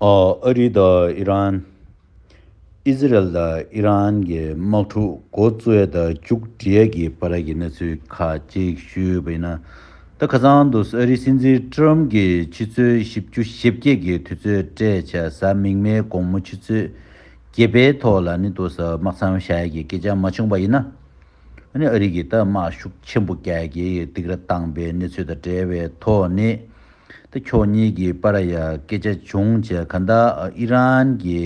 ཨ་རི་དང་ཨི་རན། ཨི་ཟི་རལ་དང་ཨི་རན་གྱི་དམག་འཁྲུག་འགོ་བཙོས་དང་མཇུག་འབྲས་ཀྱི་བར་གྱི་གནས་ཚུལ་ཁ་གཅིག་ཞུས་པ་ཡིན་ན། ད་ཁ་སང་དུ་ཨ་རིའི་སྲིད་འཛིན་ཀྲི་རམ་གྱི་ཕྱི་ཚོུད་བཞི་བཅུ་ཞེ་བརྒྱད་ཀྱི་དུས་ཚོད་སྤྲད་བྱ་གཟའ་མིག་མའི་དགོང་མོ་ཆུ་ཚོད་བརྒྱད་པའི་ཐོག་ལ་ནི་དུ་ས་དམག་མཚམས་བཞག་གི་སྐད་ཆ་མ་བྱུང་པ་ཡིན་ན། ཨ་རི་གྱིས་ད་དམག་ཤུགས་ཆེན་པོ་རྒྱག་གི་ཡོད་འདུག་ར་བཏང་པའི་གནས་ཚུལ་དང་འབྲེལ་བའི་ཐོག་ནས། ཏེ་ཕྱོགས་གཉིས་ཀྱི་པ་ར་ཡ་སྐད་ཆ་བྱུང་རྗེས་གྷན་དྷ་ཨི་རན་གྱི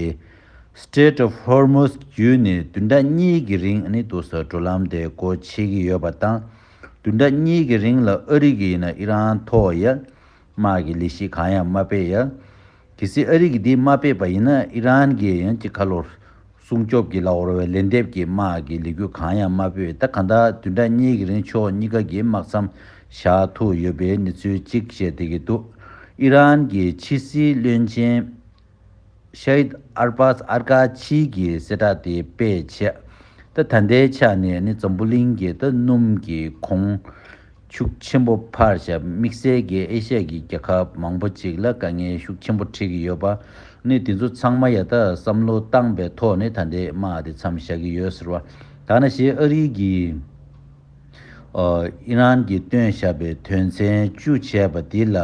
Strait of Hormuz བརྒྱུད་ནས་བདུན་ཕྲག་གཉིས་ཀྱི་རིང་ནི་ཏུ་སོ་འགྲོ་ལམ་དེ་སྒོ་ཕྱེ་གི་ཡོད་པ་དང། བདུན་ཕྲག་གཉིས་ཀྱི་རིང་ལ་ཨ་རི་གིས་ནི་ཨི་རན་ཐོག་ཡར་དམག་གི་ལས་གཞི་གང་ཡང་མ་སྤེལ་ཡ། གལ་སྲིད་ཨ་རི་གིས་དེ་མ་སྤེལ་པ་ཡིན་ན་ཨི་རན་གྱིས་ཡང་ཅི་ཁ་ལོ། སྲུང་སྐྱོབ་ཀྱི་ལ་བོར་བའི་ལན་འདེབས་ཀྱི་དམག་གི་ལས་འགུལ་གང་ཡང་མ་སྤེལ་ད་ག་འདྲ་དུས་འདྲ་གཉིས་ཀྱི་རིང་ཕྱོགས་གཉིས་ཀ་གིས་དམག་མཚམས་བཞག་ཐུབ་ཡོད་པའི་གནས་ཚུལ་གཅིག་བཤད་བསྡད་ཀྱི་འདུག་ཨི་རན་གྱི་ཕྱི་སྲིད་བློན་ཆེན། Shahid Arbaz Arghachi། གིས་གསལ་བསྒྲགས་དེ་སྤེལ་རྗེས། ད་ད་ལྟའི་ཆ་ནས་ནི་འཛམ་བུ་གླིང་གི་ད་སྣུམ་གྱི་གོང། ཤུགས་ཆེན་པོ་ཕར་བཞག་དམིགས་བསལ་གྱིས་ཨེ་ཤ་ཡའི་རྒྱལ་ཁབ་མང་པོ་ཅིག་ལ་དཀའ་ངལ་ཤུགས་ཆེན་པོ་འཕྲད་ཀྱི་ཡོད་པ་ནི་དེ་ཚོ་ཚང་མ་ཡ་ད་བསམ་བློ་བཏང་པའི་ཐོག་ནས་ད་འདས་མ་འདི་མཚམས་བཞག་གི་ཡོད་ཟེར་བ་ད་ན་ཞེས་ཨ་རིའི་གིས་ཨི་རན་གྱིས་བཏོན་བཞག་པའི་དོན་ཚན་བཅུ་བྱས་པ་དེ་ལ་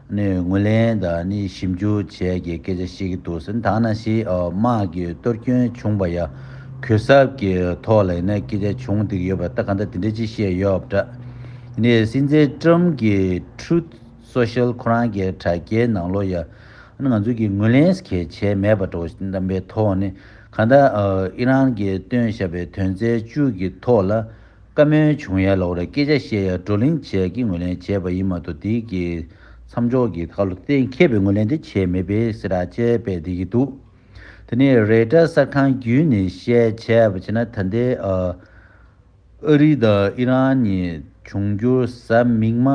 ནས་ངོས་ལེན་དང་ནི་ཞིབ་འཇུག་བྱས་ཀྱི་སྐད་ཆ་བཤད་ཀྱི་འདུག་ཟེར་ཐང་ན་ཞི་དམག་གི་གཏོར་སྐྱོན་བྱུང་བ་ཡང་གུས་གསབ་ཀྱི་ཐོག་ལ་ཡིན་ན་སྐད་ཆ་བྱུང་འདུག་ཡོད་པ་ལྟ་ག་འདྲ་དེ་འདྲ་ཅིག་བཤད་ཡོད་པ་འདྲ། ནས་སྲིད་འཛིན་ཀྲུམ་གྱི Truth Social ཁོ་རང་གི་དྲ་རྒྱའི་ནང་ལོ་ཡང་ང་ཚོ་གིས་ངོས་ལེན་གལ་ཆེ་མེད་པ་འདྲ་བོ་བདམས་པའི་ཐོག་ནས་གང་ལྟར་ཨི་རན་གྱིས་བཏོན་བཞག་པའི་དོན་ཚན་བཅུ་གྱི་ཐོག་ལ། བཀའ་མོལ་བྱུང་ཡ་ལོག་རེད་སྐད་ཆ་བཤད་ཡ་བགྲོ་གླེང་བྱས་ཀྱི་ངོས་ལེན་བྱས་པ་ཡིན་མ་ཏོ་དེ་གི་མཚམས་འཇོག་གི་ཁ་ལོ་གཏན་འཁེལ་པའི་ངོས་ལེན་དེ་བྱས་མེད་པའི་སེ་ར་ཅལ་པས་འདེད་ཀྱི་འདུག་དེ་ནས་རེ་བཀྲ་གསར་ཁང་བརྒྱུད་ནས་བཤད་བྱས་པ་བྱས་ན་ད་ལྟའི་ཨ་རི་དང་ཨི་རན་གཉིས་འབྱུང་འགྱུར་གཟའ་མིག་མ་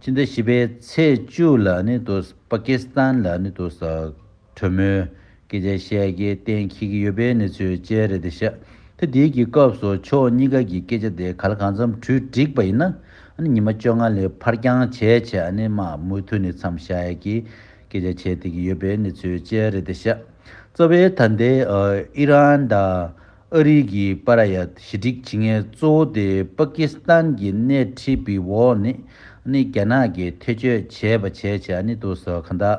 སྤྱི་ཟླ་བཞི་པའི་ཚེས་བཅུ་ལ་ནི་ཏོ་སྤ་ཀི་སི་ཐན་ལ་ནི་ཏོ་ཟ། གྲོས་མོལ། སྐད་ཆ་བཤད་རྒྱའི་གཏན་འཁེལ་གྱི་ཡོད་པའི་གནས་ཚུལ་བཅས་རེད་དེ་ཤག་ཐེ་དེའི་གི་སྐབས་སུ་ཕྱོགས་གཉིས་ཀ་གི་སྐད་ཆ་དེ་ག་ལ་གང་འཚམས་གྲུས་འགྲིག་པ་ཡིན་ན། ཉི་མ་བཅོ་ལྔ་ལས་ཕར་འགྱངས་བྱས་བྱས་ཨ་ནི་མ་མུ་མཐུད་ནས་འཚམས་བཞག་ཡ་གི་སྐད་ཆ་བྱས་དེ་གི་ཡོད་པའི་གནས་ཚུལ་བཅས་རེད་དེ་ཤག་རྩ་བའི་ད་ལྟའི་ཨི་རན་དང་ཨ་རི་གི་པ་ར་ཡ་ཞི་འགྲིག་བྱེད་ངེས་གཙོ་བོ་དེ་པ་ཀི་སི་ཐན་གི་སྣེ་ཁྲིད་པི་འོག་ནས་ཨ་ནི་རྒྱ་ནག་གི་ཐེ་བྱུས་བྱས་པ་བྱས་བྱས་ཨ་ནི་དུ་ཟོ་ག་འདའ་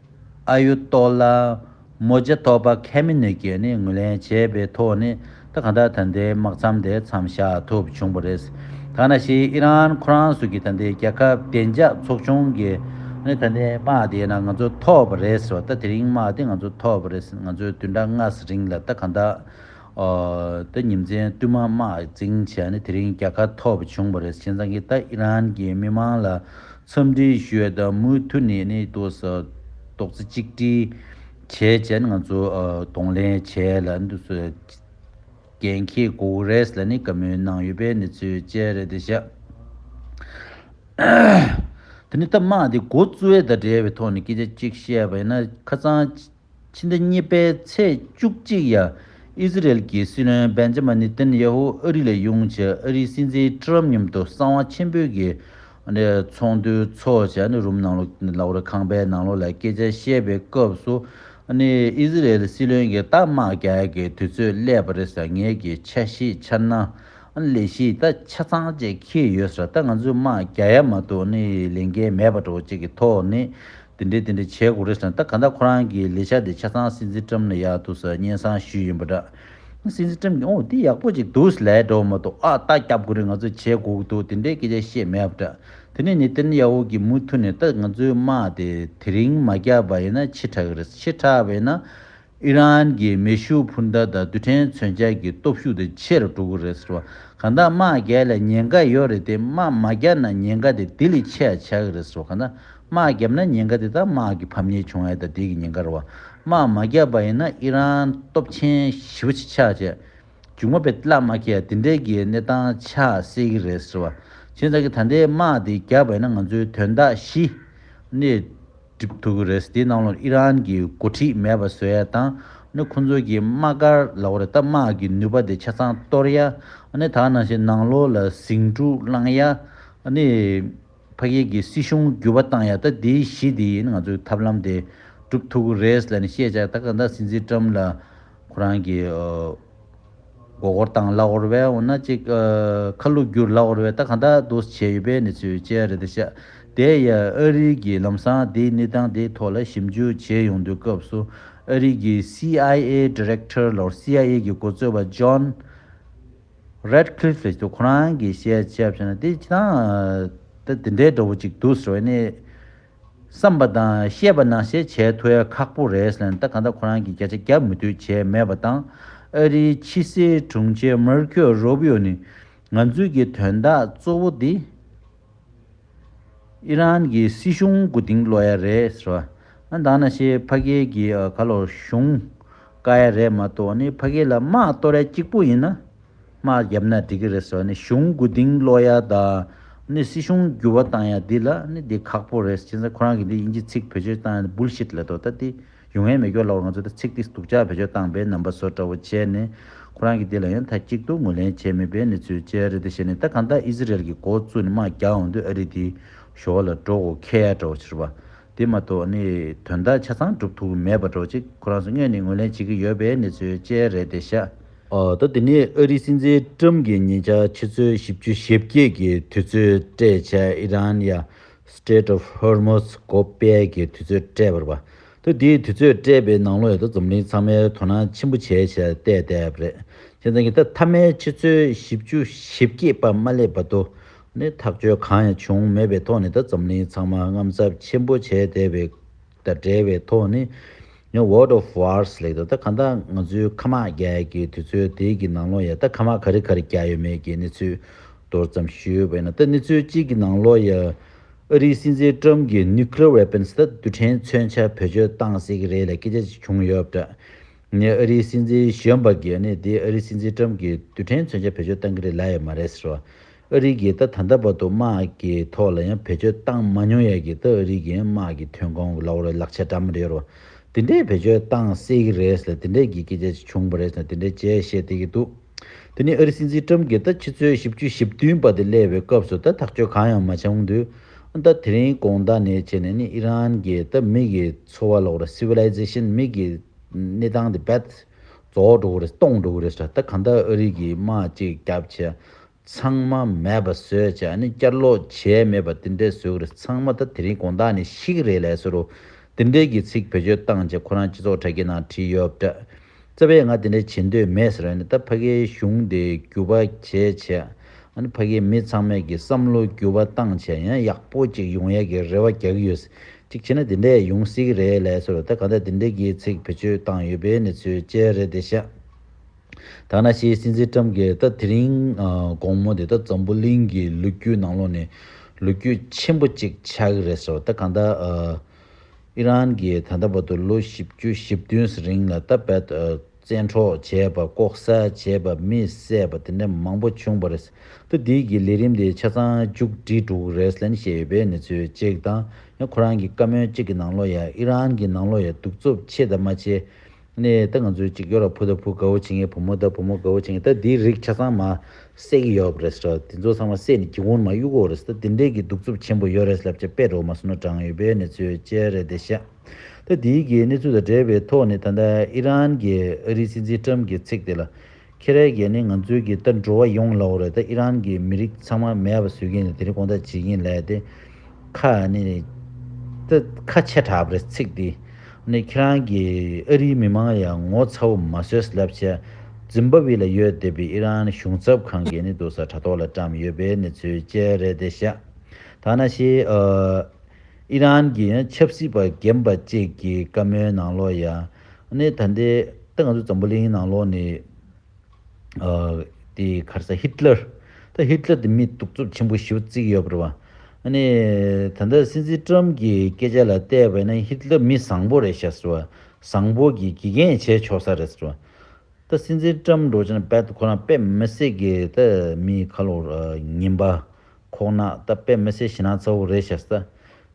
ཨ་ཡུ་ཏོ་ལ། མོ་རྗེ་ཐོག་པ་ཁས་མི་ནུས་ཀྱི་ནི་ངོས་ལེན་བྱས་པའི་ཐོག་ནས་ད་གང་ལྟར་ད་ལྟའི་དམག་མཚམས་དེ་མཚམས་བཞག་ཐུབ་བྱུང་བ་རེད། གང་ན་ཞིག་ཨི་རན་ཁོ་རང་སུ་ཀྱི་ད་ལྟའི་རྒྱལ་ཁབ་བདེ་འཇགས་ཚོགས་ཆུང་གི་ནི་ད་ལྟའི་དམག་དེ་ན་ང་ཚོ་ཐོབ་པ་རེད་ཟེར་བ་ད་དེ་རིང་དམག་དེ་ང་ཚོ་ཐོབ་པ་རེད་ང་ཚོའི་དུས་འདྲ་སྔ་ས་རིང་ལ་ད་གང་ལྟར་ཨོ། ད་ཉིན་མཚན་བསྟུད་མ་དམག་འཛིང་བྱས་ནི་དེ་རིང་རྒྱལ་ཁ་ཐོབ་བྱུང་བ་རེད་བྱས་ཙང་གི་ད་ཨི་རན་གྱི་མི་དམངས་ལ་འཚམས་འདྲི་ཞུས་དང་མུ་མཐུད་ནས་གནས་ཐོག་ས་ཐོག་རྩེ་གཅིག་སྒྲིལ་བྱེད་བཅས་ང་ཚོས་གདོང་ལེན་བྱས་ལ། རྒན་མཁས་གོ་ཝུ་རེས་ལ་ནི་བཀའ་མོལ་གནང་ཡོད་པའི་གནས་ཚུལ་བཅས་རེད་དེ། ཞག་དེ་ནི་སྟབས་མ་བདེ་འགོ་གཙོས་དང་འབྲེལ་བའི་ཐོག་ནས་སྐད་ཆ་གཅིག་བཤད་པ་ཡིན་ན། ཁ་ཚང། ཕྱི་ཟླ་གཉིས་པའི་ཚེས་བཅུ་གཅིག་ཡ་ཨི་ཟི་རེལ་གྱི་སྲིད་བློན་སྦེན་ཇཱ་མཱ་ནི་ཏན་ཡ་ཧུ་ཨ་རི་ལ་དབྱུང་ཆེད་ཨ་རིའི་སྲིད་འཛིན་ཀྲི་རམ་མཉམ་དུ་གསང་བ་ཆེན་པོའི་གི་ཚོགས་འདུའི་ཚོགས་ཆེན་རུམ་ནང་ལོགས་རེ་ཁང་པའི་ནང་ལོགས་ལ་སྐད་ཆ་བཤད་པའི་སྐབས་སུ་ཨི་ཟི་རེལ་སྲིད་བློན་གྱིས་རྟགས་དམག་རྒྱག་གི་དུས་ཚོད་སླེབས་པ་རེད་ཟེར་ངེད་ཀྱི་ཆ་ཤེས་འཆར་ན་ལས་གཞི་ད་ཆ་ཚང་བཅས་འཁེལ་ཡོད་ཟེར་ད་ང་ཚོས་དམག་རྒྱག་ཡ་མ་གཏོགས་ལས་འགན་མེད་པ་འགྲོ་བ་བཅས་ཀྱི་ཐོག་ནས་དེ་འདྲའི་དེ་འདྲའི་བྱས་དགོས་རེད་ཟེར་ན་ད་ག་འདྲ་ཁོ་རང་གིས་ལས་བྱ་དེ་ཆ་ཚང་སྲིད་འཛིན་ཀྲམ་ལ་ཡག་འདུག་ཟེར་སྙན་གསང་ཞུས་ཡིན་པ་འདྲ། སྲིད་འཛིན་ཀྲམ་གྱིས་ཨོ་དེ་ཡག་པོ་ཅིག་འདུག་ལས་འགྲོ་བ་མ་གཏོགས་ཨ་ལྟ་སྐྱབས་དགོས་རིགས་ང་ཚོས་བྱས་དགོས་ཀྱི་འདུག་དེ་འདྲའི་སྐད་ཆ་བཤད་མེད་པ་འདྲ། དེ་ནས་ནེ་ཏན་ཡ་ཧུ་གྱིས་མུ་མཐུད་ནས་ད་ང་ཚོའི་དམག་དེ་དེ་རིང་མ་བརྒྱབ་པ་ཡིན་ན་འཆི་དྲགས་ཀྱི་རེད་ཟེར་འཆི་དྲགས་པ་ཡིན་ན། ཨི་རན་གྱི་མེ་ཤུགས་འཕུར་མདའ་དང་རྡུལ་ཕྲན་མཚོན་ཆ་གྱི་སྟོབས་ཤུགས་དེ་ཆེ་རུ་འགྲོ་གི་རེད་ཟེར་བ་གང་དག་དམག་རྒྱལ་ལ་ཉེན་ཁ་ཡོད་རེད་དེ་དམག་མ་རྒྱག་ན་ཉེན་ཁ་དེ་དེ་ལས་ཆེ་ཡང་ཆགས་ཀྱི་རེད་ཟེར་བ་གང་དག་དམག་རྒྱབ་ན་ཉེན་ཁ་དེ་དག་དམག་གི་ཕམ་ཉེས་བྱུང་ཡ་ད་དེ་གི་ཉེན་ཁ་རེད་བ་དམག་མ་རྒྱག་པ་ཡིན་ན་ཨི་རན་སྟོབས་ཆེན་ཞི་བ་ཆེ་ཆགས་ཆེ་འཇུག་མ་པའི་གླགས་མ་ཁྱེད་དེ་འདྲས་གི་གནས་སྟངས་ཆགས་སྲིད་གི་རེད་ཟེར་བ་ཁྱེད་ཅག་གི་ད་ལྟའི་དམག་དེ་རྒྱག་པ་ཡིན་ན་ང་ཚོའི་དོན་དག་ཞི་གནས་སྒྲིག་ཐུབ་ཀྱི་རེད། དེའི་ནང་ལོ་ཨི་རན་གྱི་འགོ་ཁྲིད་མེད་པ་བཟོས་ཡ་དང་ནི་ཁོང་ཚོའི་གྱི་དམག་སྒར་ལ་འོ་རེད་སྟབས་དམག་གྱི་ནུས་པ་དེ་ཆ་ཚང་གཏོར་ཡ་ནི་ད་ནང་བཞིན་ནང་ལོ་ལ་ཟིང་འཁྲུག་བསླངས་ཡ་ནི་ཕ་སྐད་གྱི་སྲིད་གཞུང་བསྒྱུར་བ་བཏང་ཡ་ད་དེའི་གཞི་དེ་ཡིན་ང་ཚོའི་ཐབས་ལམ་དེ་སྒྲུབ་ཐུབ་ཀྱི་རེད་ལ་ནི་བཤད་བྱ་ད་ག་ད་སྲིད་འཛིན་ཀྲམ་ལ་ཁོ་རང་གྱི། མགོ་སྐོར་དང་ལག་འོར་བས་འོ་ན་ཅིག། ཁ་བསླུ་བསྒྱུར་ལག་འོར་བས་ད་ག་འདྲ་འདུག་བྱས་ཡོད་པའི་གནས་ཚུལ་བཅས་རེ་ད་ཤ་དེ་ཡ་ཨ་རིའི་གི་ལམ་སང་དེའི་གནས་སྟངས་དེའི་ཐོག་ལ་ཞིབ་འཇུག་བྱས་ཡོང་དུས་སྐབས་སུ་ཨ་རིའི་གི CIA Director ལོར CIA གི་འགོ་གཙོས་པ John Ratcliffe ལས་ཀྱི་ཁོ་རང་གི་བཤད་བྱས་པ་ཤེས་ན་དེ་ཅི་ད་དེ་འདྲའི་འདྲ་བོ་ཅིག་འདུག་ཟེར་བ་ནི། བསམ་པ་དང་ཤེས་པ་ནང་བཤད་བྱས་ཐུ་ཡ་ཁག་པོ་རེད་ལན་ད་ག་འདྲ་ཁོ་རང་གི་བརྒྱ་ཆ་བརྒྱ་མུ་མཐུད་བྱས་མེད་པ་དང་ཨ་རིའི་ཕྱི་སྲིད་དྲུང་ཆེ་མར་ཁོ་རོ་བྷི་ཡོ་ནི་ང་ཚོའི་གི་དོན་དག་གཙོ་བོ་དེ་ཨི་རན་གི་སྲིད་གཞུང་གུ་དིང་ལོ་ཡ་རེད་ཟེར་བ་ཨ་འདང་ན་ཤེས་ཕ་གེ་གི་ག་ལོ་གཞུང་དཀའ་ཡ་རེད་མ་ཏོ་ནི་ཕ་གེ་ལ་དམག་གཏོ་རལ་གཅིག་པོ་ཡིན་ན། དམག་བརྒྱབ་ན་འགྲིག་གི་རེད་ཟེར་བ་ནི་གཞུང་དགུ་སྡིངས་སློག་ཡ་དང། སྲིད་གཞུང་འགྱུར་བ་བཏང་ཡ་འདི་ལ་ནི་འདི་ཁག་པོ་རེད་ཅེས་ཁོ་རང་གི་འདི་དབྱིན་ཇི་ཚིག་བེད་སྤྱོད་བཏང་ཡ་འདི་བུལ་ཤིད་ལེ་དོ་ད་འདི་ཡུ་ངན་མེ་སྒྱོགས་ལ་བ་ང་ཚོ་འདི་ཚིག་འདི་སྡུག་ཅག་བེད་སྤྱོད་བཏང་པའི་རྣམ་པ་བཟོ་འདྲ་བོ་བྱས་ནི་ཁོ་རང་གི་འདི་ལ་ཡང་ད་གཅིག་ཏུ་ངོས་ལེན་བྱས་མེད་པའི་ནི་ཚུལ་བཅས་རེད་དེ་བྱས་ནི་ད་གང་ལྟར་ཨི་ཟི་རལ་གི་མགོ་བཙུགས་ནི་དམག་རྒྱག་འོང་དུས་ཨ་རི་འདི་ཞོ་བ་ལ་འགྲོ་དགོ་ཁེ་ཡ་འདྲ་བོ་བྱེད་ར་བ་འདི་མ་གཏོགས་ནི་དོན་དག་ཆ་ཚང་འགྲུབ་ཐུབ་མེད་པ་འདྲ་བོ་ཅིག་ཁོ་རང་ཚོ་དངོས་ནི་ངོས་ལེན་བྱེད་ཀྱི་ཡོད་པའི་ནི་ཚུལ་བཅས་རེད་དེ་ཤ། ཟླ་འདི་ནི་ཨ་རིའི་སྲིད་འཛིན་ཀྲུམ་གྱིས་ཉེ་ཆར་ཕྱི་ཚོད་བཞི་བཅུ་ཞེ་བརྒྱད་ཀྱི་དུས་ཚོད་སྤྲད་བྱ་ཨི་རན་ཡ Strait of Hormuz གོ་པལ་གྱི་དུས་ཚོད་སྤྲད་པར་བ། ཟླ་འདིའི་དུས་ཚོད་སྤྲད་པའི་ནང་ལོ་ཡོད་འཛམ་གླིང་ཚང་མས་དོ་སྣང་ཆེན་པོ་བྱས་བྱ་བལྟས་བལྟས་པ་རེད། ཁྱེད་རང་གིས་ད་མཐའ་མའི་ཕྱི་ཚོད་བཞི་བཅུ་ཞེ་བརྒྱད་པ་མ་སླེབས་བ་དུ་ནི་ཐག་གཅོད་གང་ཡང་བྱུང་མེད་པའི་ཐོག་ནས་ད་འཛམ་གླིང་ཚང་མ་རྔམ་ཚབ་ཆེན་པོ་བྱས་བསྡད་པའི་དང་འབྲེལ་བའི་ཐོག་ནས World of Wars ལེགས་འདུག་ད་གང་ལྟར་ང་ཚོའི་ཁ་དམག་རྒྱ་ཡག་གི་དུས་ཚོད་དེ་གི་ནང་ལོ་ཡ་ད་ཁ་དམག་ག་རེ་ག་རེ་རྒྱག་ཡོད་མེད་ཀྱི་གནས་ཚུལ་མདོར་ཙམ་ཞུས་བས་ན་ད་གནས་ཚུལ་གཅིག་གི་ནང་ལོ་ཡ་ཨ་རིའི་སྲིད་འཛིན Trump གི Nuclear Weapons ད་རྡུལ་ཕྲན་མཚོན་ཆ་བེད་སྤྱོད་བཏང་སྲིད་ཀྱི་རེད་ལ་སྐད་ཆ་ཅིག་བྱུང་ཡོད་པ་འདྲ་ཨ་རིའི་སྲིད་འཛིན་གཞོན་པ་གིས་ནི་དེ་ཨ་རིའི་སྲིད་འཛིན Trump གི་རྡུལ་ཕྲན་མཚོན་ཆ་བེད་སྤྱོད་བཏང་གི་རེད་ལབ་ཡོད་མ་རེད་ཟེར་བ། ཨ་རིའི་གིས་ད་ད་ལྟ་བར་དུ་དམག་གི་ཐོག་ལ་ཡང་བེད་སྤྱོད་བཏང་མ་མྱོང་ཡས་ཀྱི་ད་ཨ་རིའི་གིས་དམག་གི་ཐོན་ཁོང་གི་ལ་བོར་བའི་ལག་ཆ་འདྲ་མོ་རེད་རོ། དེ་འདྲས་བེད་སྤྱོད་བཏང་སྲིད་གི་རེད་ལ་དེ་འདྲས་ཀྱི་སྐད་ཆ་ཞིག་བྱུང་བ་རེད་ལ་དེ་འདྲས་བྱས་བཤད་བསྡད་ཀྱི་འདུག་དེ་ནི་ཨ་རི་སྲིད་འཛིན་ཀྲམ་གྱིས་ད་ཕྱི་ཚོའི་བཞི་བཅུ་བཞི་བདུན་པ་དེ་སླེབས་པའི་སྐབས་སུ་ད་ཐག་གཅོད་གང་ཡང་མ་བྱུང་དུས་ད་དེ་རིང་གོང་ད་ནས་བྱས་ནས་ནི་ཨི་རན་གྱིས་ད་མིག་གི་འཚོ་བ་ལ་བོར་བ Civilization མིག་གི་གནས་སྟངས་དེ Bad རྫོགས་འགྲོ་གི་རེད་སྟོང་འགྲོ་གི་རེད་ཟེར་ད་གང་ལྟར་ཨ་རིག་གིས་དམག་ཅིག་བརྒྱབ་བྱས་ཚང་མ་མེད་པ་བཟོས་བྱས་ཨ་ནི་བསྐྱར་ལོག་བྱས་མེད་པ་དེ་འདྲས་བཟོས་གི་རེད་ཚང་མ་ད་དེ་རིང་དགོངས་དག་ནས་ཤི་གི་རེད་ལས་ཟེར་རོ་དེ་འདྲས་ཀྱི་ཚིག་བེད་སྤྱོད་བཏང་བྱས་ཁོ་རང་སྤྱི་ཚོགས་དྲ་རྒྱའི་ནང་བྲིས་ཡོད་པ་འདྲ་རྩ་བས་ང་དེ་འདྲས་བྱེད་འདོད་མེད་ཟེར་ཨ་ནི་ད་ཕ་གིའི་གཞུང་དེ་འགྱུར་བ་བྱས་བྱས་ཨ་ནི་ཕ་གིའི་མི་ཚང་མས་ཀྱི་བསམ་བློ་འགྱུར་བ་བཏང་བྱས་ཡང་ཡག་པོ་ཅིག་ཡོང་ཡས་ཀྱི་རེ་བ་རྒྱག་གི་ཡོད་གཅིག་བྱས་ན་དེ་འདྲས་ཡོང་སྲིད་ཀྱི་རེད་ལས་སོར་ད་ག་འདྲས་དེ་འདྲས་ཀྱི་ཚིག་བེད་སྤྱོད་བཏང་ཡོད་པའི་གནས་ཚུལ་བཅས་རེད་དེ་ཤ་ཐག་ན་ཤིའི་སྲིད་འཛིན་ཀྲམ་གྱིས་ད་དེ་རིང་དགོང་མོ་དེ་ད་འཛམ་བུ་གླིང་གི་ལོ་རྒྱུས་ནང་ལོགས་ནས་ལོ་རྒྱུས་ཆེན་པོ་གཅིག་ཆགས་ཀྱི་རེད་སོར་ད་ག་འདྲ་ཨི་རན་གྱིས་ད་ལྟ་བར་དུ་ལོ་བཞི་བཅུ་བཞི་བདུན་རིང་ལ་ད་རྦད་དོ་བཙན་འཕྲོག་བྱས་པ་ལྐོག་ཟ་བྱས་པ་མི་བསད་པ་དེ་འདྲ་མང་པོ་བྱུང་བ་རེད། ད་འདིའི་གི་ལས་རིམ་དེ་ཆ་ཚང་མཇུག་སྒྲིལ་འགྲུག་རེད་ལན་བཤད་ཡོད་པའི་ནི་ཚོད་གཅིག་དང་ཡང་ཁོ་རང་གི་བཀའ་མོལ་གཅིག་གི་ནང་ལོ་ཡ་ཨི་རན་གི་ནང་ལོ་ཡ་སྡུག་རྩུབ་ཆེ་དང་མ་ཆེ་ནི་ད་ང་ཚོའི་གཅིག་ཡོ་ར་བུ་ད་བུ་དགའ་བོ་བྱེད་ངེས་བུ་མོ་ད་བུ་མོ་དགའ་བོ་བྱེད་ངེས་ད་འདིའི་རིགས་ཆ་ཚང་མ་བསད་གི་ཡོད་རེད་ཟེར་བ་དེ་ཚོ་ཚང་མ་བསད་ནི་གི་ཧོན་མ་གཡུག་འོག་རེད་ད་འདི་འདྲའི་གི་སྡུག་རྩུབ་ཆེན་པོ་ཡོད་རེད་ལབ་ཆ་དཔེ་རོ་མ་སོ་ན་བགྲང་ཡོད་པའི་ནི་ཚོད་གཅིག་རེད་དེ་ཤ། ཐེངས་འདིའི་གི་གནས་ཚུལ་དང་འབྲེལ་བའི་ཐོག་ནས་ད་ལྟ་ཨི་རན་གྱི་ཨ་རིའི་སྲིད་འཛིན་ཀྲམ་གྱི་ཚིག་དེ་ལ། ཁྱེད་རས་གས་ནི་ང་ཚོའི་གི་ལྟར་འགྲོ་བ་ཡོང་ལ་འོ་རེད་ད་ཨི་རན་གྱི་མི་རིགས་ཚང་མ་མེད་པ་བཟོས་གིན་ལ་དེ་རིང་དགོངས་དག་བྱེད་གིན་ལས་དེ། ཁ་ནི། ད་ཁ་ཆེ་དྲགས་པ་རེད་ཚིག་འདི་ནི་ཁྱེད་རང་གི་ཨ་རིའི་མི་མང་ཡང་ངོ་ཚ་བོ་མ་བཟོས་ལབ་བྱས། ཛིམ་བ་བི་ལ་ཡོད་བསྡད་པའི་ཨི་རན་གཞུང་ཚབ་ཁང་གི་ནི་དུ་ས་དྲ་ཐོག་ལ་བཀྲམས་ཡོད་པའི་གནས་ཚུལ་བཅས་རེད་དེ་ཤ་ད་ན་ཤི་ཨ། ཨི་རན་གྱི་ཆབ་སྲིད་པ་རྒན་པ་བཅས་ཀྱི་བཀའ་མོལ་ནང་ལོགས་ཡ་ནི་ད་ལྟའི་ད་ང་ཚོ་འཛམ་བུ་གླིང་ནང་ལོགས་ནི་དེ་གར་ས་ཧི་ཏི་ལར་ད་ཧི་ཏི་ལར་དེ་མི་གདུག་རྩུབ་ཆེན་པོ་ཞིག་བརྩིགས་ཡོད་པར་བ་ཨ་ནི་ད་ལྟ་སྲིད་འཛིན་ཏྲམ་གྱི་སྐད་ཆ་ལ་བལྟས་པ་ན་ཧི་ཏི་ལར་མི་བཟང་པོ་རེད་ཤག་ཟེར་བ་བཟང་པོ་གི་དགེ་རྒན་བྱས་ཆོག་ས་རེད་ཟེར་བ་ད་སྲིད་འཛིན་ཏྲམ་འགྲོ་ཆེན་པད་ཁོ་རང་པད་མ་སྲེག་གི་ད་མི་ཁ་ལོ་ངན་པ་ཁོག་ནག་སྟབས་དཔེ་མི་སེ་ཞེ་ན་ཚ་བོ་རེད་ཤག་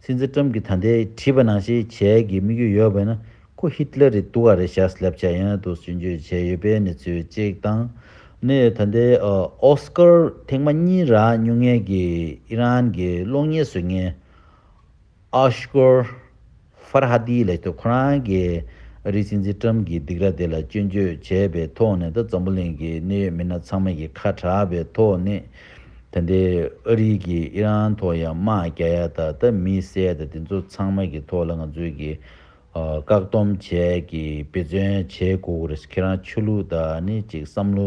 སྲིད་འཛིན་ཀྲམ་གྱི་ད་ལྟའི་བྲིས་པ་ནང་བཞིན་བྱས་གི་དམིགས་ཡུལ་ཡོད་པས་ན་ཁོ་ཧི་ཏི་ལེ་རེད་འདུག་ག་རེད་ཤག་སླེབས་བྱ་ཡང་དུ་སུན་བརྗོད་བྱས་ཡོད་པའི་གནས་ཚུལ་གཅིག་དང་ནི་ད་ལྟའི་ཨོ་སི་ཀར་ཐེངས་མ་གཉིས་རག་ཉུང་ངེས་ཀྱི་ཨི་རན་གྱི་གློག་བརྙན་བཟོས་ངན། ཨཱཤྐུར། ཧྥར་ཧ་དཱིའི་ལས་སྟེགས་ཁོ་རང་གིས་ཨ་རིའི་སྲིད་འཛིན་ཀྲམ་གྱི་སྡིགས་ར་དེ་ལ་སྐྱོན་བརྗོད་བྱས་པའི་ཐོག་ནས་དང་འཛམ་བུ་གླིང་གི་གནད་ཡོད་མི་སྣ་ཚང་མ་ཡི་ཁ་གྲགས་པའི་ཐོག་ནས་ད་ལྟའི་ཨ་རིའི་གིས་ཨི་རན་ཐོག་ཡང་དམག་རྒྱག་ཡ་ད་ད་མི་བསད་ད་དེ་ཚོ་ཚང་མ་གི་ཐོག་ལ་ང་ཚོས་གི་བཀག་སྡོམ་བྱས་གི་འབད་བརྩོན་བྱེད་དགོས་གི་རེད་ཁྱེད་རང་ཆོས་ལུགས་ད་ནི་ཅིག་བསམ་བློ་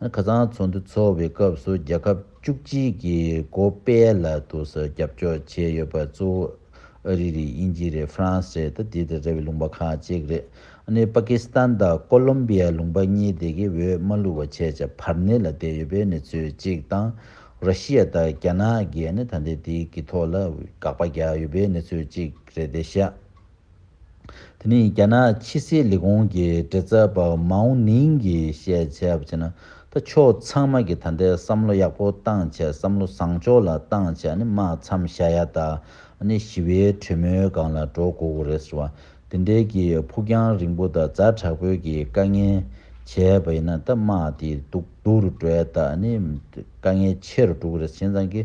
ཁ་རྩང་ཚོགས་འདུ་འཚོགས་པའི་སྐབས་སུ་རྒྱལ་ཁབ་བཅུ་གཅིག་གི་གོ་པའི་ལ་དུ་ས་རྒྱབ་སྐྱོར་བྱས་ཡོད་པ་གཙོ་བོ་ཨ་རི་རེད་དབྱིན་ཇི་རེད་ཧྥ་རན་སི་རེད་དེ་དང་འདྲ་བའི་ལུང་པ་ཁག་གཅིག་རེད་ནི་པ་ཀི་སི་ཐན་དང་ཀོ་ལོམ་པི་ཡའི་ལུང་པ་གཉིས་དེ་གའི་འོས་མ་བླུགས་པ་བྱས་བྱས་བར་ནི་ལ་བསྡད་ཡོད་པའི་ནི་ཚོད་ཅིག་དང་ར་ཤི་ཡ་དང་རྒྱ་ནག་གིས་ནི་ད་ལྟའི་དེའི་གི་ཐོག་ལ་དགག་པ་རྒྱག་ཡོད་པའི་ནི་ཚོད་ཅིག་རེད་དེ་ཤ། དེ་ནི་རྒྱ་ནག་ཕྱི་སྲིད་ལས་ཁུངས་ཀྱི་འབྲེལ་མཛད་པ་མའོ་ནིང་གིས་བཤད་བྱས་པ་བྱས་ན། ད་ཕྱོགས་ཚང་མ་གི་ད་ལྟའི་བསམ་བློ་ཡག་པོ་བཏང་བྱས་བསམ་བློ་བཟང་ཕྱོགས་ལ་བཏང་བྱས་ནི་མ་འཚམས་བཞག་ཡ་ད་ནི་ཞི་བའི་གྲོས་མོལ་སྒང་ལ་འགྲོ་དགོས་དགོས་རེད་ཟེར་བ་དེ་འདྲའི་གི་ཕུགས་རྒྱང་རིང་པོ་ད་རྫ་དྲག་པོའི་གི་དཀའ་ངལ་བྱས་པ་ཡིན་ན་ད་མ་དེ་འདུག། དུག་རུ་བྲོས་དག་ནི་དཀའ་ངལ་ཆེ་རུ་འགྲོ་གི་རེད་བྱས་ཙང་གི་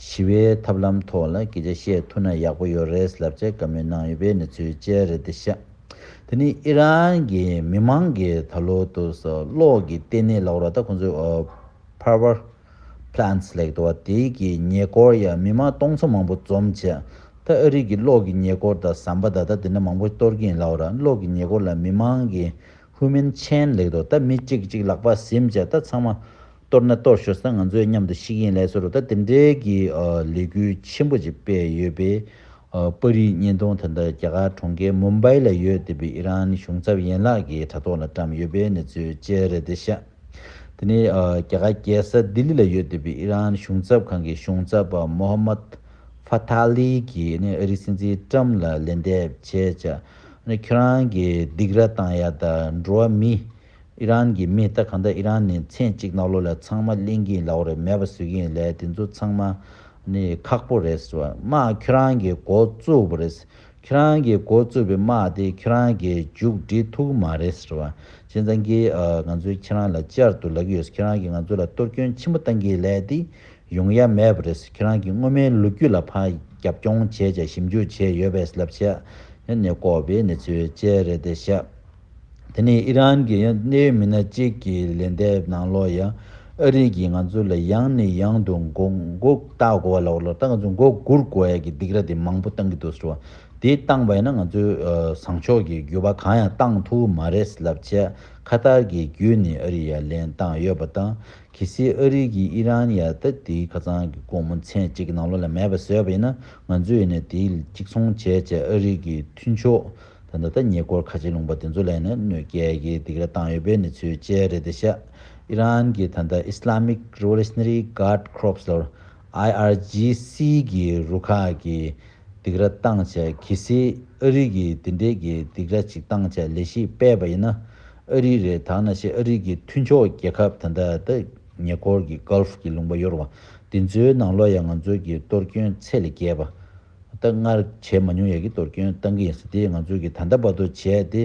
ཞི་བའི་ཐབས་ལམ་ཐོག་ལ་སྐད་ཆ་བཤད་ཐུབ་ན་ཡག་པོ་ཡོད་རེད་ལབ་ཆེད་བཀའ་མོལ་གནང་ཡོད་པའི་གནས་ཚུལ་བཅས་རེད་འདི་ཤ་དེ་ནི་ཨི་རན་གྱི་མི་མང་གི་ད་ལོ་དུ་ས་གློག་གི་ལྟེ་གནས་ལག་རོག་ད་ཁོང་ཚོའི Power Plants ལེགས་འགྲོ་བ་དེ་གི་ཉེ་སྐོར་ཡ་མི་མང་སྟོང་ཚོ་མང་པོ་འཛོམས་བྱས་ད་ཨ་རིག་གི་གློག་གི་ཉེ་སྐོར་ད་ཟམ་པ་ད་ད་དེ་འདྲ་མང་པོ་གཏོར་གྱིན་ལག་ར་གློག་གི་ཉེ་སྐོར་ལ་མི་མང་གི་ཁུ་མིན་ཆན་ལེགས་འདུག་ད་མི་གཅིག་གཅིག་ལག་པ་གཟིམ་བཅས་ད་ཚང་མ་གཏོར་ན་གཏོར་ཞོར་ས་ང་ཚོས་མཉམ་དུ་ཤིག་ཡིན་ལེགས་སོ་རུ་ད་དེ་འདྲའི་གི་ལས་འགུལ་ཆེན་པོ་ཅིག་སྤེལ་ཡོད་པས་པར་རིས་བརྙན་ཐུང་དེ་འདྲ་རྒྱ་གར་གྲོང་ཁྱེར་མུམ་བྷའི་ལ་ཡོད་དེ་བས་ཨི་རན་གཞུང་ཚབ་ཡན་ལག་གི་དྲ་ཐོག་ལ་བཀྲམ་ཡོད་པའི་གནས་ཚུལ་བཅས་རེད་དེ་ཤ་དེ་ནི་རྒྱ་གར་རྒྱལ་ས་ལྡི་ལི་ལ་ཡོད་དེ་བས་ཨི་རན་གཞུང་ཚབ་ཁང་གི་གཞུང་ཚབ་པ་མོ་ཧ་མད་ཧྥ་ཐ་ལི་གིས་ཨི་རིག་སྲིད་འཛིན་ཀྲམ་ལ་ལན་འདེབས་བྱས་བྱ་ནི་ཁྱོད་རང་གི་སྡིག་ར་བཏང་ཡ་ད་འགྲོ་བ་མི་ཨི་རན་གི་མི་ད་གང་ད་ཨི་རན་ནི་མཚན་གཅིག་གནའ་བློ་ལས་ཚང་མ་གླེང་གིན་ལ་བོ་རེད་མེད་པ་བཟོས་གིན་ལས་དེ་ཚོ་ཚང་མ་ནི་ཁག་པོ་རེད་བཟོ་དམག་ཁྱོད་རང་གི་མགོ་བཙུགས་པོ་རེད་ཁྱོད་རང་གི་མགོ་བཙུགས་པའི་དམག་དེ་ཁྱོད་རང་གི་མཇུག་བསྒྲིལ་ཐུག་གི་མ་རེད་ཟེར་བ་ཅན་ཚང་གིས་ང་ཚོས་ཁྱེད་རང་ལ་གཅར་དུ་ལག་གི་ཡོད་ཟེར་ཁྱོད་རང་གིས་ང་ཚོ་ལ་གཏོར་སྐྱོན་ཆེན་པོ་བཏང་གིན་ལས་དེ་ཡོང་ཡ་མེད་པ་རེད་ཁྱེད་རང་གིས་སྔོན་མའི་ལོ་རྒྱུས་ལ་ཕར་རྒྱབ་རྐྱོང་བྱས་བྱས་ཞིབ་འཇུག་བྱས་ཡོད་པས་ལབ་བྱས་ནས་ལྐོག་པའི་གནས་ཚུལ་བཅས་རེད་དེ་བཤད། དེ་ནས་ཨི་རན་གྱི་གནད་ཡོད་མི་སྣ་གཅིག་གིས་ལན་འདེབས་གནང་ལོ་ཡ་ཨ་རིག་གིས་ང་ཚོ་ལ་ཡང་ནས་ཡང་དུ་མགོ་མགོ་བཏགས་དགོ་བ་ལ་བ་ལ་བཏགས་ང་ཚོ་མགོ་སྒུར་དགོ་ཡ་གི་སྡིག་ར་དེ་མང་པོ་བཏང་གི་འདུག་ཟེར་བ་དེ་བཏང་པ་ཡིན་ན་ང་ཚོའི་བཟང་ཕྱོགས་ཀྱི་རྒྱུ་བ་གང་ཡང་བཏང་ཐུབ་མ་རེད་ལབ་བྱས་ཁ་ཏར་གྱི་རྒྱུད་ནས་ཨ་རི་ཡ་ལན་བཏང་ཡོད་པ་དང་གལ་སྲིད་ཨ་རི་གིས་ཨི་རན་ཡར་ལྟ་དེའི་ཁ་ཚང་གི་སྒོ་མོ་མཚན་གཅིག་གི་ནང་ལོགས་ལ་མེད་པར་བཟོས་པ་ཡིན་ན་ང་ཚོས་ནས་དེའི་གཅིག་མཚུངས་བྱས་རྗེས་ཨ་རི་གི་མཐུན་ཕྱོགས་དང་ད་ལྟ་ཉེ་འཁོར་ཁ་ཆེ་ལུང་པ་དེ་ཚོ་ལས་ནས་གནོད་སྐྱལ་གྱི་སྡིགས་ར་བཏང་ཡོད་པའི་གནས་ཚུལ་བཅས་རེད་དེ་ཤ་ཨི་རན་གྱི་ད་ལྟ Islamic Revolutionary Guard Corps ལོར IRGC གི་རུ་ཁག་གི་སྡིགས་ར་བཏང་བྱས་གལ་སྲིད་ཨ་རི་གིས་དེ་འདྲའི་གི་སྡིགས་ར་ཅིག་བཏང་བྱས་ལས་གཞི་སྤེལ་པ་ཡིན་ན་ཨ་རི་རེད་ད་ནང་བཞིན་ཨ་རི་གི་མཐུན་ཕྱོགས་རྒྱལ་ཁབ་དེ་འདྲ་ད་ཉེ་འཁོར་གི Gulf གི་ལུང་པ་གཡོར་བ་དེ་ཚོའི་ནང་ལོ་ཡ་ང་ཚོ་གི་གཏོར་སྐྱོན་ཚད་ལས་བརྒལ་བ་ད་སྔར་བྱས་མ་མྱོང་ཡ་གི་གཏོར་སྐྱོན་བཏང་གི་ཡིན་སྲིད་དེ་ང་ཚོ་གི་ད་ལྟ་བར་དུ་བྱས་དེ་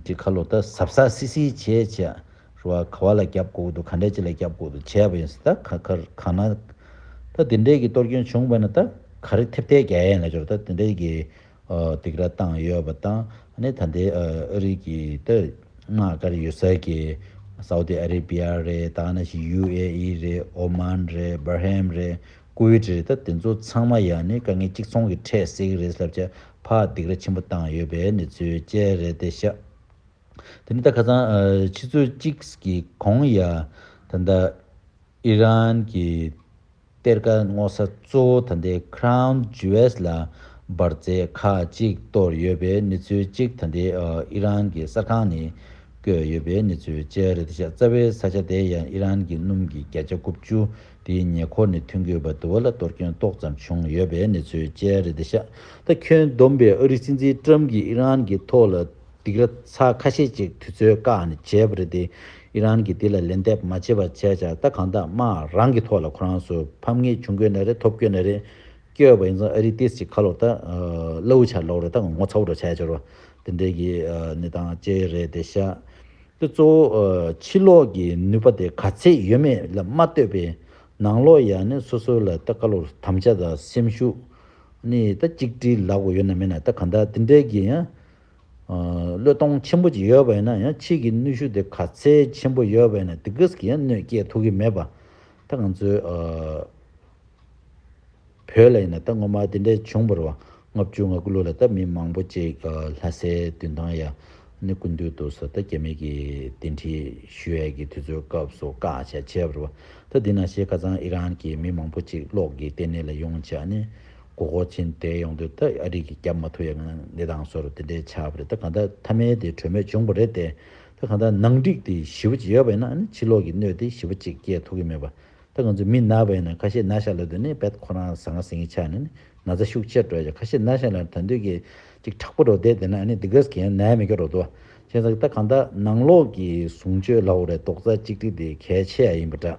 གི་ཁ་ལོ་ད་ཟབ་ཟ་སི་སི་བྱས་བྱས་རུ་བ་ག་བ་ལ་རྒྱབ་དགོས་དགོས་དུ་ག་འདྲ་ཅི་ལ་རྒྱབ་དགོས་དུ་བྱས་བ་ཡིན་སྲིད་ད་ག་གར་གང་ན་ད་དེ་འདྲའི་གི་གཏོར་སྐྱོན་བྱུང་བ་ན་ད་ག་རེ་ཐེབས་ཐལ་རྒྱ་ཡན་ལ་འབྱོར་ད་དེ་འདྲའི་གི་སྡིགས་ར་བཏང་ཡོད་པ་དང་ནི་ད་ལྟའི་ཨ་རིག་གི་ཏི་ནག་དཀར་ཡོད་ས་གི་སའུ་ཏི་ཨ་རི་བྷི་ཡ་རེད་ད་ང་ན་ཞིག་ཡུ་ཨེ་ཨི་རེད་ཨོ་མཱན་རེད་སྦར་ཧེམ་རེད་ཀུ་ཝེ་ཏི་རེད་ད་དེ་ཚོ་ཚང་མ་ཡང་ནི་དཀའ་ངལ་གཅིག་མཚུངས་ཀྱི་འཕྲད་སྲིད་ཀྱི་རེད་ཟླ་བརྒྱ་ཕག་སྡིགས་ར་ཆེན་པོ་བཏང་ཡོད་པའི་ནི་ཚོའི་དཔྱད་རེད་དེ་ཤ་དེ་ནི་ད་ཁ་ཚང་ཕྱི་ཚོད་གཅིག་གི་གོང་ཡ་ད་ད་ཨི་རན་གི་གཏེར་ཁ་སྔོག་ས་གཙོ་བོ་ད་ལྟའི Crown Jewels ལ་འབར་རྫས་ཁག་གཅིག་གཏོར་ཡོད་པའི་གནས་ཚུལ་གཅིག་ད་ལྟའི་ཨི་རན་གྱི་གསར་ཁང་ནས་བཀོད་ཡོད་པའི་གནས་ཚུལ་བཅས་རེད་ཤ་ཙ་བའི་ས་ཆ་དེ་ཡང་ཨི་རན་གྱི་སྣུམ་གྱི་བརྒྱ་ཆ་དགུ་བཅུ་དེའི་ཉེ་འཁོར་ནས་ཐོན་ཁུལ་བ་དུ་བ་ལ་གཏོར་སྐྱོན་ཏོག་ཙམ་བྱུང་ཡོད་པའི་གནས་ཚུལ་བཅས་རེད་ཤ་ད་ཁྱོན་བསྡོམས་པས་ཨ་རི་སྲིད་འཛིན Trump གྱིས་ཨི་རན་གྱི་ཐོག་ལ་སྡིགས་ར་ཚ་ཁ་ཤས་ཅིག་དུས་ཚོད་བཀག་ནས་བྱས་པ་རེད་དེ། ཨི་རན་གྱིས་དེ་ལ་ལན་འདེབས་མ་བྱེད་པར་བྱས་ཆགས་ད་གང་དག་དམག་རང་གི་ཐོག་ལ་ཁོ་རང་ཚོ་ཕམ་ངེས་བྱུང་དགོས་ན་རེད་ཐོབ་དགོས་ན་རེད། སྐྱོ་བ་ཡིན་ཙང་ཨ་རིས་ཏིས་ཀྱི་ཁ་ལོ་ད་གླ་འུ་ཆར་ལོག་རེད་ད་ངོ་ཚ་བོ་འགྲོ་བྱས་འབྱོར་བ་དེ་འདྲའི་གི་ནི་དང་བཅས་རེད་དེ་ཤ་དེ་གཙོ་བོ་ཕྱི་ལོག་གི་ནུས་པ་དེ་ག་ཚད་ཡོད་མེད་ལ་མ་ལྟོས་པའི་ནང་ལོག་ཡ་ནི་སོ་སོ་ལ་ད་བཀའ་སློབ་དམ་བཅའ་དང་སེམས་ཤུགས་ནི་ད་གཅིག་སྒྲིལ་ལག་པོ་ཡོད་ན་མེད་ན་ད་གང་དག་དེ་འདྲའི་གི་ཡ། བློས་གཏོང་ཆེན་པོ་བགྱིས་ཡོད་པ་ཡིན་ན་ཡང་ཕྱིས་ཀྱི་ནུས་ཤུགས་དེ་ག་ཚད་ཆེན་པོ་ཡོད་པ་ཡིན་ན་དེ་སྐད་ཀྱིས་ཡང་གནོད་སྐྱེལ་ཐུབ་ཀྱི་མེད་པ། ད་ང་ཚོའི་བོད་ལ་ཡིན་ན་ད་ངོ་མ་དེ་འདྲ་བྱུང་བར་བ་ལྔ་བཅུ་ང་དགུ་ལོ་ལ་ད་མི་མང་པོ་ཅིག་ལྷ་སའི་དུས་ཐང་ཡ་ནི་ཀུན་འདུས་འདུག་ས་ད་རྒྱ་མི་གི་གདན་ཁྲི་ཞུ་ཡས་ཀྱི་དུས་ཚོད་སྐབས་སུ་བཀའ་ཆ་བྱས་བར་བ་ད་འདི་ན་ཤེས་ཁ་ཚང་ཨི་རན་གྱི་མི་མང་པོ་ཅིག་གློག་གི་ལྟེ་གནས་ལ་ཡོང་བྱ་ནི་གོ་གོ་ཆེན་བསྡད་ཡོང་དུས་ད་ཨ་རིག་གི་རྒྱབ་མ་ཐུག་ཡ་ང་ནི་དང་སོར་དེ་འདྲའི་ཆགས་པ་རེད་ད་གང་ད་ཐ་མལ་དེ་གྲོས་མོད་བྱུང་པ་རེད་དེ་ད་གང་ད་ནང་འགྲིག་དེ་ཞི་བ་ཅིག་ཡོད་པ་ཡིན་ན་ནི་ཕྱི་ལོག་གི་གནོད་དེ་ཞི་བ་ཅིག་སྐྱེད་ཐུག་གི་མེད་པ་ད་ང་ཚོ་མི་ན་བ་ཡིན་ན་ཁ་ཤས་ན་ཤ་ལ་དུས་ནི་བད་ཁོ་རང་ཟ་ང་ཟིང་གི་ཆགས་ནས་ནི་ན་ཚ་ཤུགས་ཆེར་འགྲོ་ཡ་ཁ་ཤས་ན་ཤ་ལ་ད་འདོད་གི་ཅིག་དྲག་པོ་རོ་བསྡད་དེ་ན་ནི་དི་གས་གི་ཡང་ནའི་མི་ག་རོ་དུ་བ་ཅན་ཟ་གི་ད་གང་ད་ནང་ལོག་གི་བཟུང་སྤྱོད་ལ་བོ་རེ་དོག་རྩ་གཅིག་སྒྲིག་དེ་གལ་ཆེ་ཡ་ཡིན་པ་འདྲ།